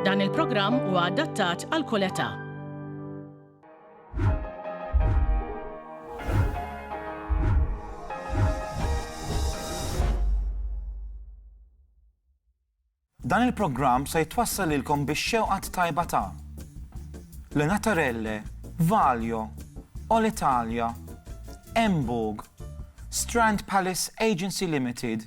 Dan il-programm huwa adattat għal kull età. Dan il-programm se jitwassal lilkom bix-xewqat tajba ta' Le Natarelle, Valjo, All Italia, Embog, Strand Palace Agency Limited,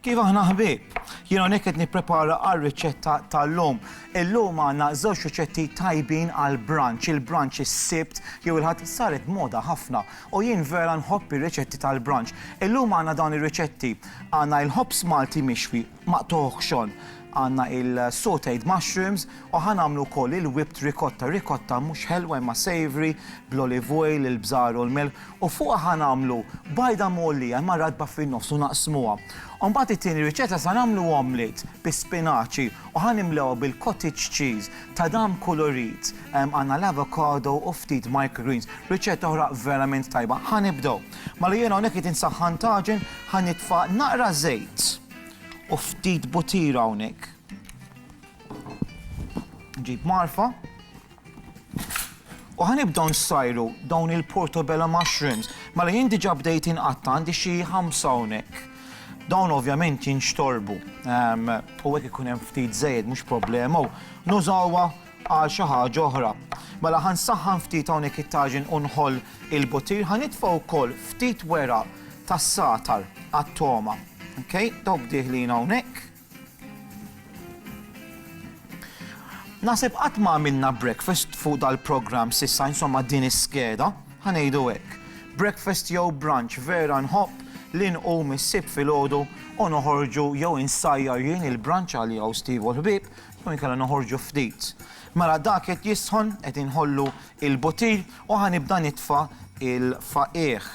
Kif aħna ħbieb? Jien hawnhekk qed nipprepara għar-riċetta tal-lum. Illum għandna żewġ riċetti tajbin għal brunch. Il-brunch is-Sibt jew il-Ħadd saret moda ħafna u jien vera nħobb ir-riċetti tal-brunch. Illum għandna dawn ir-riċetti. Għandna il-ħobż Malti mixwi maqtugħ xon. Għandna il-sautéed mushrooms u ħa nagħmlu wkoll il-whipped ricotta, ricotta mhux ħelwa imma savoury bl-olive oil, il-bżar u l-milħ u fuqha ħa nagħmlu bajda mgħollija imma ratba fin-nofs u naqsmuha. U mbagħad it-tieni riċetta sa nagħmlu omelett bis-spinaċi u ħa nimlewha bil-cottage cheese, tadam kulurit, għandna l-avocado u ftit microgreens. Riċetta oħra verament tajba. Ħa nibdew. Mela jiena hawnhekk qed insaħħan taġen, ħa nitfa' naqra żejt. U ftit butira hawnhekk. Nġib marfa. U ħanibdew nsajru dawn il-portobello mushrooms. Mela jien diġà bdejt inqatta' għandi xi ħamsa hawnhekk. Dawn ovvjament jinxtorbu. Ehm, u hekk ikun hemm ftit żejjed mhux problema u nużawha Għal xi ħaġa oħra. Mela ħa nsaħħan ftit hawnhekk it-taġin u nħoll il-butir, ħa nitfa' wkoll ftit weraq tas-sagħtar għat-togħma. Okay? Dawk dieħlin hawnhekk. Naħseb qatt ma għamilna breakfast fuq dal-programm sissa insomma din is-skeda, ħanejdu hekk. Breakfast jew brunch vera nħobb li nqum issib filgħodu u noħorġu jew insajjar jien il-brunch għal jew Steve u l-ħbib U inkella noħorġu ftit. Mela dak qed jisħon, qed inħollu il-butir u ħa nibda nitfa' il-faqigħ.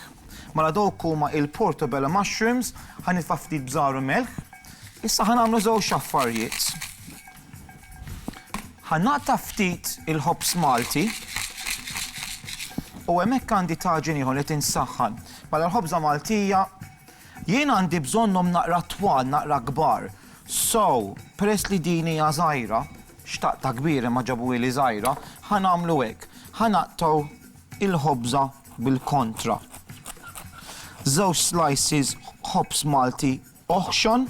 Mela dawk huma il-portobello mushrooms, ħa nitfa' ftit bżar u melħ. Issa ħa nagħmlu żewġ affarjiet. Ħa naqta' ftit il-ħobż Malti u hemmhekk għandi taġin ieħor qed insaħħan. Mela l-ħobża Maltija Jien għandi bżonnhom naqra twal, naqra kbar. So, peress li din hija żgħira, xtaqtha kbir imma ġabuhieli żgħira, ħa nagħmlu hekk, ħa naqtgħu l-ħobża bil-kontra. Żewġ slices ħobż Malti oħxon,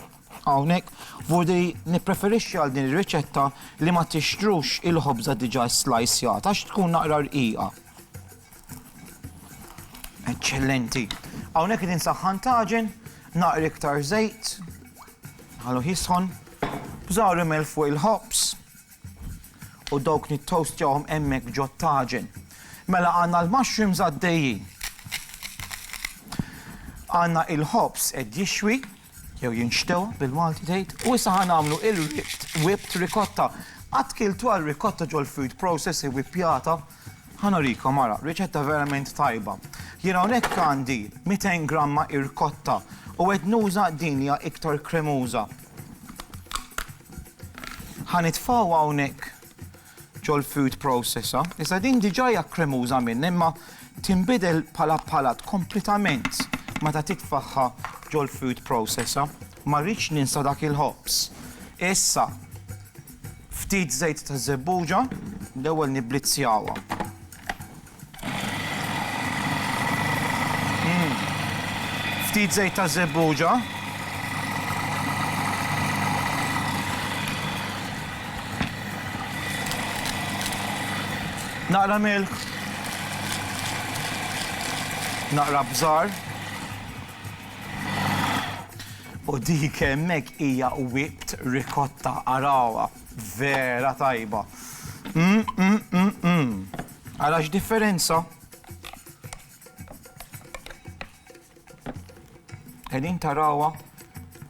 hawnhekk, vurdi nippreferixxi għal din ir-riċetta li ma tixtrux il-ħobża diġà ssliceata għax tkun naqra rqiqa. Eċċellenti. Hawnhekk qed insaħħan taġen, naqri iktar żejt, ħalu jisħon, bżawri mel fuq il-ħobs u dawk nittoastjahom hemmhekk ġot taġen. Mela għandna l-mushrooms għaddejjin. Għandna il-ħobs qed jixwi, Jew jinxtew, bil-Malti tgħid, u issa ħa nagħmlu il-whipped, whipped, ricotta. Qatt kiltu għal ricotta ġol-food process iwwippjata? Ħa nurikom, ara, riċetta verament tajba. Jien hawnhekk għandi 200 gramma ircotta u qed nuża din li hija iktar kremuża. Ħa nitfgħu hawnhekk ġol-food processor, iżda din diġà hija kremuża minn imma tinbidel bħala palat kompletament meta titfagħha ġol-food processor. Ma rridx ninsa dak il-ħobż. Issa ftit żejt taż-żebbuġa, l-ewwel nibblizzjawha. Ftit żejt ta' żebbuġa. Naqra milk. Naqra bżar. U dik hemmhekk hija whipped ricotta arawha. Vera tajba. Mm, mm, mm, mm. Ara x'differenza! Qegħdin tarawha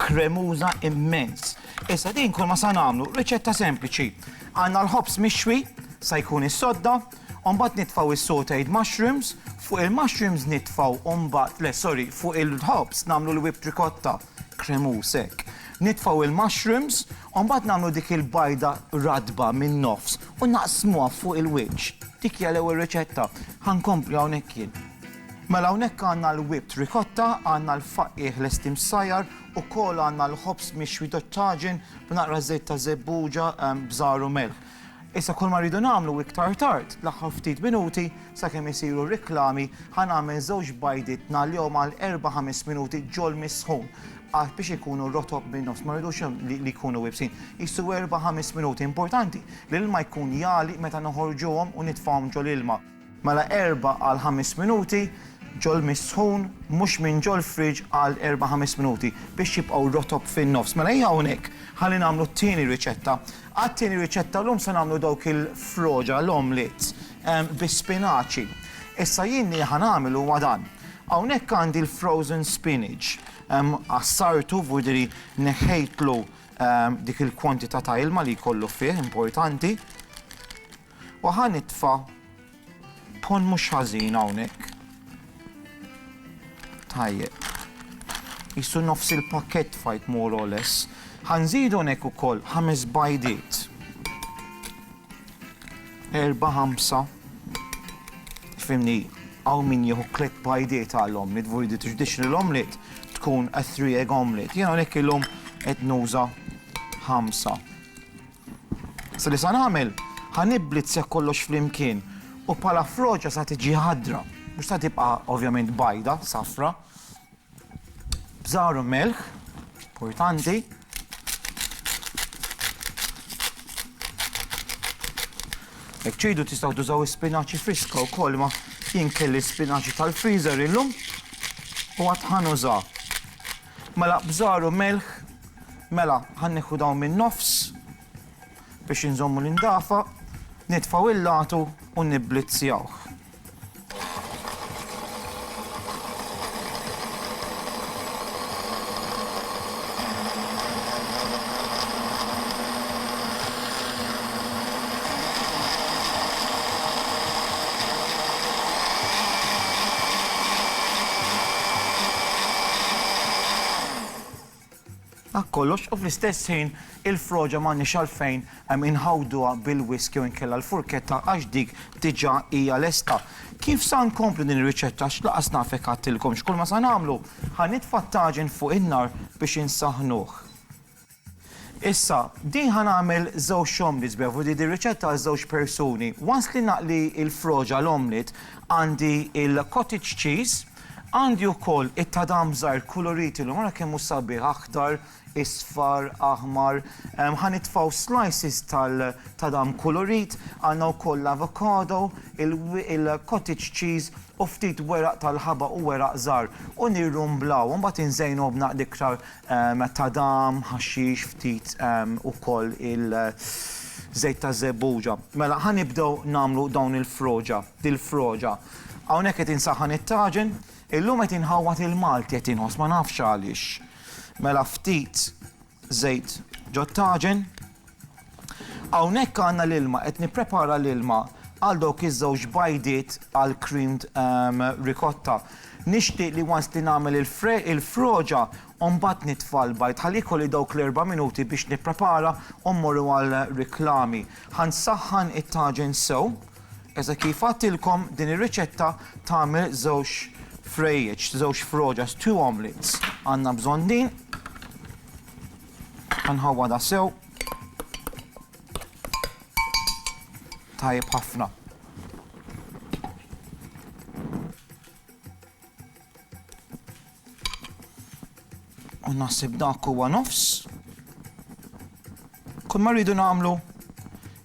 kremuża immens. Issa din kull ma sa nagħmlu riċetta sempliċi. Għandna l-ħobż mixwi, sa jkun is-sodda, u mbagħad nitfgħu is-sautéed mushrooms, fuq il-mushrooms nitfgħu mbagħad, le sorry, fuq il-ħobż nagħmlu l-whipped ricotta. kremuż hekk. Nitfgħu il-mushrooms u mbagħad nagħmlu dik il-bajda ratba min-nofs u naqsmuha fuq il-wiċċ. Dik hija l-ewwel riċetta. Ħa nkompli hawnhekk jien. Mela hawnhekk għandna l-whipped ricotta, għandna l-faqqiegħ lesti msajjar, ukoll għandna l-ħobż mixwi tat-taġin b'naqra żejt ta' żebbuġa, bżar u melħ. Issa kull ma rridu nagħmlu iktar tard, fl-aħħar ftit minuti, sakemm isiru r-riklami, ħa nagħmel żewġ bajdiet ngħallihom għal erba' ħames minuti ġol-misħun għax biex ikunu rotob min-nofs, ma rridux li jkunu iebsin. Qisu erba' ħames minuti. Importanti li l-ilma jkun jagħli meta noħorġuhom u nitfgħuhom ġol-ilma. Mela erba' għal ħames minuti ġol mist sħun, mhux minn ġol fridge għal erba' ħames minuti biex jibqgħu rotob fin-nofs. Mela ejja hawnhekk ħalli nagħmlu t-tieni riċetta. Għat-tieni riċetta llum se nagħmlu dawk il-froġa, l-omelets, bis-spinaċi. Issa jien li ħa nagħmel huwa dan. Hawnhekk għandi l-frozen spinach. Għassartu, vurdiri neħħejtlu dik il-kwantità ta' ilma li jkollu fih, importanti. U ħa nitfa' pon mhux ħażin hawnhekk. Tajjeb. Qisu nofs il-pakkett tfajt more or less. Ħa nżidu hawnhekk ukoll ħames bajdiet. Erba' ħamsa. Fimni, hawn min jieħu tliet bajdiet għal omlet, vojdi traditional omlet tkun a three egg omlet. Jiena hawnhekk illum qed nuża ħamsa. Sa li sa nagħmel, ħa niblit sew kollox flimkien u bħala froċa sa tiġi ħadra, mhux sa tibqa' ovvjament bajda, safra. Bżar u melħ, importanti. Jekk ċidu tistgħu tużaw ispinaċi friska wkoll ma jien kelli spinaċi tal-freezer illum u għad ħanuża. Mela bżar u milħ, mela ħa nieħu dawn min-nofs biex inżommu l-indafa, nitfgħu il-lagħtu u nibblizzjawh. Dak kollox u fl-istess ħin il-froġa m'għandniex għalfejn inħawduha bil-wisk jew inkella l-furketta għax dik diġà hija lesta. Kif sa nkomplu din ir-riċetta għax lanqas naf jekk għedtilkomx kull ma sa nagħmlu, ħa nitfa' t-taġin fuq in-nar biex insaħħnuh. Issa, din ħa nagħmel żewġ omlets b'hekk, vudi din riċetta għal żewġ persuni. Once li naqli l-froġ għal omelet, għandi l-cottage cheese, għandi wkoll it-tadam żgħir kuluriti llum, ara kemm hu sabiħ, aħdar, isfar, aħmar. Ħa nitfgħu slices tal-tadam kulurit, għandna wkoll l-avocado, il-cottage cheese u ftit weraq tal-ħabaq u weraq żgħar u nirrumblawhom, mbagħad inżejnuhom b'naqda iktar Tadam, ħaxix, ftit ukoll il-żejt taż-żebbuġa. Mela ħa nibdew nagħmlu dawn il-froġa, dil-froġa. Hawnhekk qed insaħħan it-taġen. Illum qed inħawwad il-Malti qed inħoss ma nafx għaliex. Mela ftit żejt ġot-taġen. Hawnhekk għandna l-ilma, qed nipprepara l-ilma għal dawk iż-żewġ bajdiet għal creamed ricotta. Nixtieq li once li nagħmel il-froġa u mbagħad nitfa' l-bajd ħalli jkolli dawk l-erba' minuti biex nipprepara u mmorru għal riklami. Ħa nsaħħan it-taġin sew, eżatt kif għadtilkom din ir-riċetta tagħmel żewġ frejjeċ, żewġ froġas, two omelettes. Għandna bżonn din. Nħawwadha sew. Tajjeb ħafna. U naħseb dak huwa nofs. Kull ma rridu nagħmlu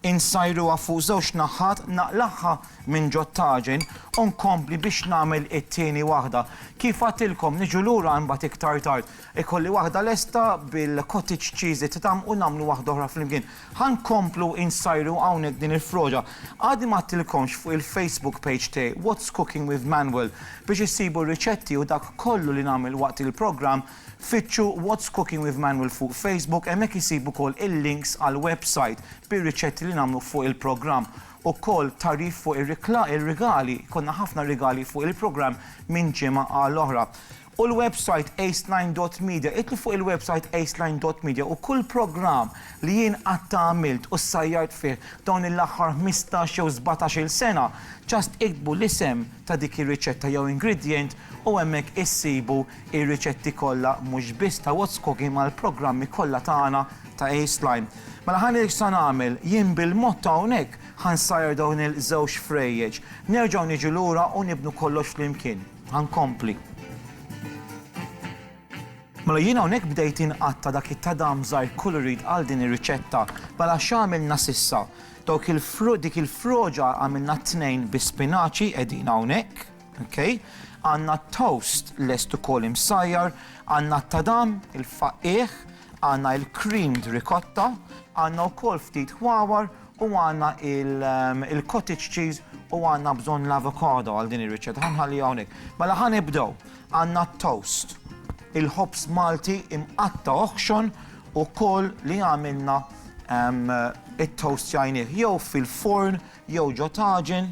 insajru fuq żewġ naħħat naqlaħħa minn ġottaġin u nkompli biex nagħmel it-tieni waħda. Kif għatilkom niġu lura imbagħad iktar tard Ikolli waħda lesta bil-cottage cheese li titgħamm u nagħmlu waħda oħra flimkien. Ħa nkomplu insajru hawnhekk din il-froġa. Għadni ma għadtilkomx fuq il-Facebook page tiegħi What's Cooking with Manuel biex issibu r-riċetti u dak kollu li nagħmel waqt il-programm. Fittxu What's Cooking with Manuel fuq Facebook, hemmhekk issib ukoll il-links għall-website bir-riċetti li nagħmlu fuq il-programm. Ukoll tagħrif fuq ir-rikla, ir-rigali, jkollna ħafna rigali fuq il-programm minn ġimgħa għal oħra. u l-websajt aceline dot media, idħlu fuq il-websajt aceline dot media u kull programm li jien qatt għamilt u ssajjart fih dawn il-aħħar ħmistax jew sbatax-il sena, just iktbu l-isem ta' dik ir-riċetta jew ingredient u hemmhekk issibu r-riċetti kollha mhux biss ta' What's Cooking ma' l-programmi kollha tagħna ta' aceline. Mela ħa ngħidlek x'sa nagħmel, jien bil-mod ta' hawnhekk ħa nsajjar dawn il-żewġ frejjeġ, nerġgħu niġu lura u nibnu kollox flimkien. Ħa nkompli. Mela jien hawnhekk bdejt inqatta' dak it-tadam żgħir colored għal din ir-riċetta. Mela x'għamilna s'issa? Dawk il dik il-froġa għamilna t-tnejn bi spinaċi qegħdin hawnhekk, ok? Għandna t-toast lest ukoll imsajjar, għandna t-tadam, il-faqqigħ, għandna il-creamed ricotta, għandna wkoll ftit ħwawar U għandna il-cottage cheese u għandna bżonn l-avocado għal din ir-riċetta. Ħa nħalliha hawnhekk. Mela ħa nibdew. Għandna t-toast, il-ħobż Malti imqatta' oħxon u kull li għamilna it-toastjajnieh jew fil-forn jew ġo taġen.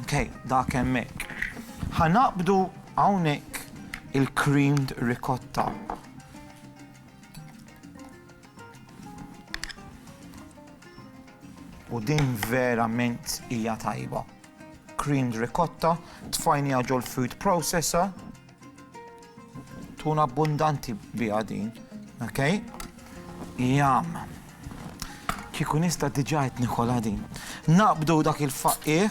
Okej, dak hemmhekk. Ħa naqbdu hawnhekk il-creamed ricotta. u din verament hija tajba. Creamed ricotta, tfajnija ġol food processor, tuna abbundanti biha din, ok? Jam. Kiku nista diġa qed nikolha din. Naqbdu dak il-faqqih.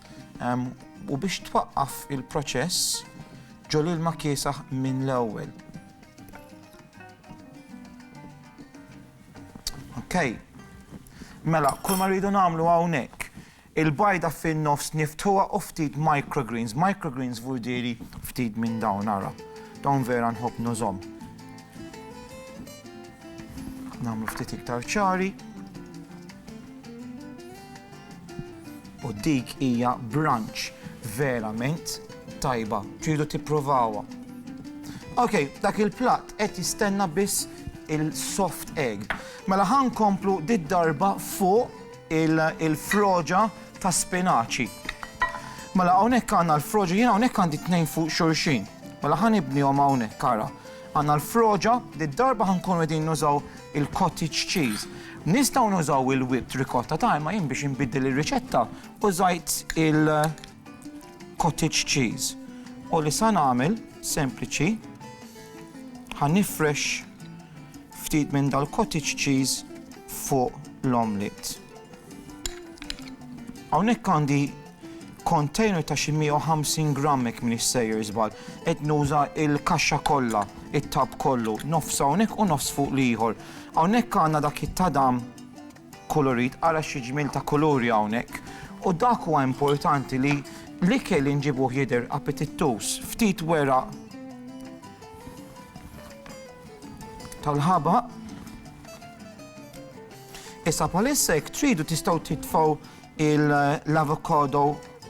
u biex twaqqaf il-proċess ġol ilma kiesaħ minn l-ewwel. Okay. Mela, kull ma rridu nagħmlu hawnhekk il-bajda fin-nofs niftuha u ftit microgreens. Microgreens vurdiri ftit minn dawn ara. Dawn vera nħobb nużom. Namlu ftit iktar ċari. U dik hija brunch verament tajba, tridu tipprovawha. Ok, dak il-platt qed jistenna biss il-soft egg. Mela ħa nkomplu did-darba fuq il-froġa ta' spinaċi. Mela hawnhekk għandna l-froġa, jien hawnhekk għandi tnejn fuq xulxin. Mela ħa nibnihom hawnhekk ara. Għandna l-froġa, did-darba ħa nkunu qegħdin nużaw il-cottage cheese. Nistgħu nużaw il-whipped ricotta ta' imma jien biex inbiddel ir-riċetta użajt il-cottage cheese. U li sa nagħmel sempliċi ħa nifrex ftit minn dal-cottage cheese fuq l-omelette. Hawnhekk għandi Container ta' xi 150 gramm jekk m'iniex sejjer żball. Qed nuża l-kaxxa kollha, it-tub kollu, nofs hawnhekk u nofs fuq l-ieħor. Hawnhekk għandna dak it-tadam kulurit, ara xi ġmiel ta' kuluri hawnhekk. U dak huwa importanti li l-ikel li nġibuh jidher appetittuż. Ftit weraq tal-ħabaq. Issa bħalissa jekk tridu tistgħu titfgħu l-avokado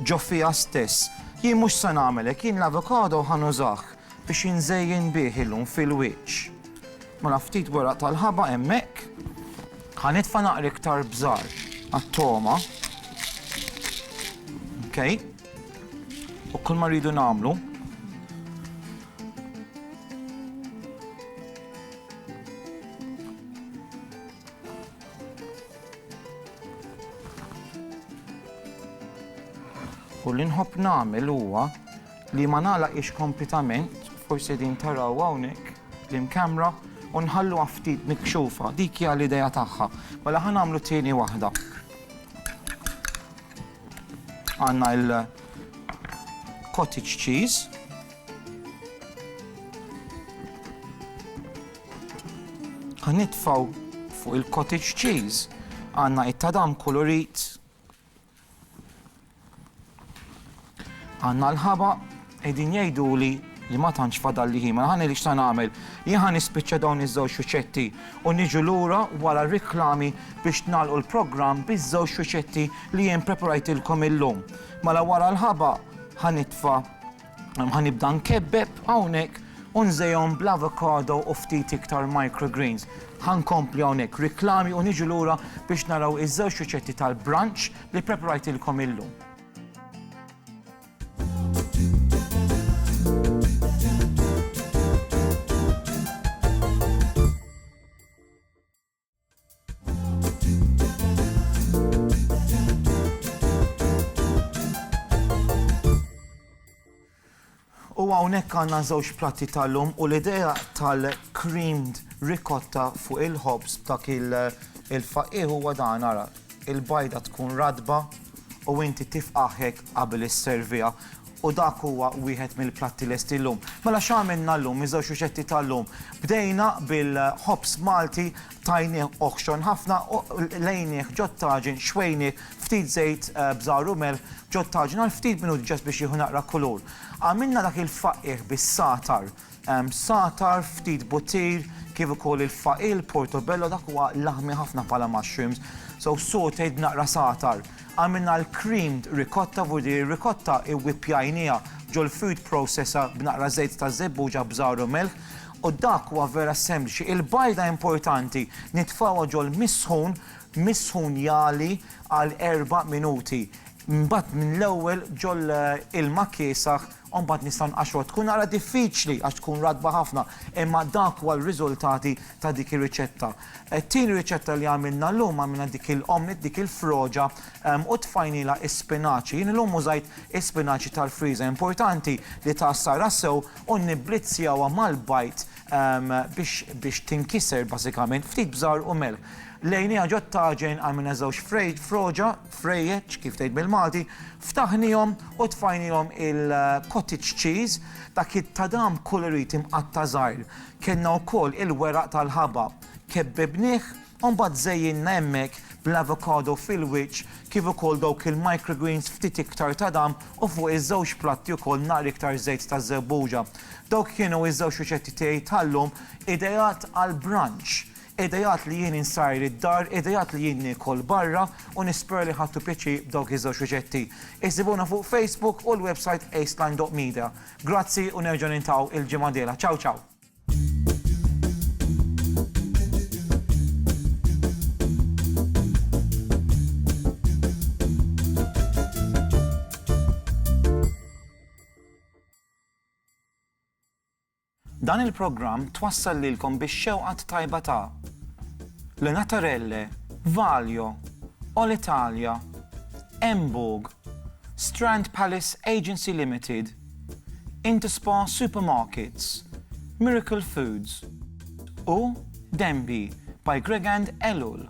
ġo fiha stess. Jien mhux se nagħmel hekk, jien l-avokado ħa nużah biex inżejjen bih illum fil-wiċċ. Mela ftit weraq tal-ħaba hemmhekk. Ħa nitfa' naqra iktar bżar għat-togħma. Okej. U kull ma rridu nagħmlu U li nħobb nagħmel huwa li ma nagħlaqhiex kompletament, forsi din taraw hawnhekk l-imkamra u nħallu ftit mikxufa, dik hija l-idea tagħha. Mela ħa nagħmlu tieni waħda. Għandna il-cottage cheese. Ħa nitfgħu fuq il-cottage cheese. Għandna it-tadam kulurit. Għandna l-ħaba qegħdin jgħiduli li ma tantx fadal li ħima. Ħani li xta' nagħmel. Jien ħa nispiċċa dawn iż-żewġ xuċetti u niġu lura wara r-riklami biex nagħlqu l-programm biż-żewġ xuċetti li jien preparajtilkom illum. Mela wara l-ħaba ħa nitfa' Ħa nibda nkebbeb hawnhekk u nżejjhom bl-avocado u ftit iktar microgreens. Ħa nkompli hawnhekk riklami u niġu lura biex naraw iż-żewġ riċetti tal-brunch li ppreprajtilkom illum. U hawnhekk għandna żewġ platti tal-lum u l-idea tal-creamed ricotta fuq il-ħobż b'dak il-faqqieħ huwa dan ara. il-bajda tkun ratba u inti tifqagħ hekk qabel isserviha u dak huwa wieħed mill-platti lesti llum. Mela x'għamilna llum, iż-żewġ riċetti tal-lum. Bdejna bil-ħobż Malti, tajnieh oħxon ħafna, lejnieh ġot-taġin, xwejnieh, ftit żejt bżar u melħ ġot-taġin għal ftit minuti ġast biex jieħu naqra kulur. Għamilna dak il-faqqiegħ bis-sagħtar. Satar, ftit buttir, kif ukoll il-faqil, portobello, dak huwa laħmi ħafna bħala mushrooms. So sautéed naqra satar. Għamilna l-creamed ricotta, vu din ir-ricotta iwwippjajnieha ġol-food processor b'naqra żejt ta' żebbuġa bżar u milħ. U dak huwa vera sempliċi. Il-bajda importanti nitfgħuha ġol-misħun, misħun jagħli għal erba' minuti. Imbagħad mill-ewwel ġol-ilma kiesaħ. u mbagħad nistgħu nqaxxruha. Tkun naqra diffiċli għax tkun ratba ħafna, imma dak huwa r-riżultati ta' dik ir-riċetta. It-tieni riċetta li għamilna llum, għamilna dik il-omelette, dik il-froġa, u tfajnielha s-spinaċi. Jien illum użajt is-spinaċi tal-friża. Importanti li tgħassarha sew u nniblizzjawha mal-bajd biex biex tinkiser bażikament, ftit bżar u melħ. Lejniha ġot-taġen għamilna żewġ frej froġa, frejjeċ, kif tgħid bil-Malti, ftaħnihom u tfajnihom il-cottage cheese, dak it-tadam kulurit imqatta' żgħir. Kellna wkoll il-weraq tal-ħabab. Kebbibnih u mbagħad żejjinna hemmhekk bl-avocado fil-wiċċ kif ukoll dawk il-microgreens ftit iktar tadam u fuq iż-żewġ platti wkoll naqra iktar żejt ta' żebbuġa. Dawk kienu ż-żewġ riċetti tiegħi tal-lum ideat għall-brunch. Qiegħda jgħid li jien insajr id-dar, qiegħda jgħid li jien niekol barra u nispera li ħadtu pjaċir b'dawk iż-żewġ riċetti. Isibuna fuq Facebook u l-websajt aceline.media. Grazzi u nerġgħu nintaw il-ġimgħa dela. Ciao ciao! Dan il-programm twassal lilkom bix-xewqa t-tajba ta' Le Natarelle, Valjo, All Italia, Emburg, Strand Palace Agency Limited, Interspa Supermarkets, Miracle Foods u Denby by Gregand Ellul.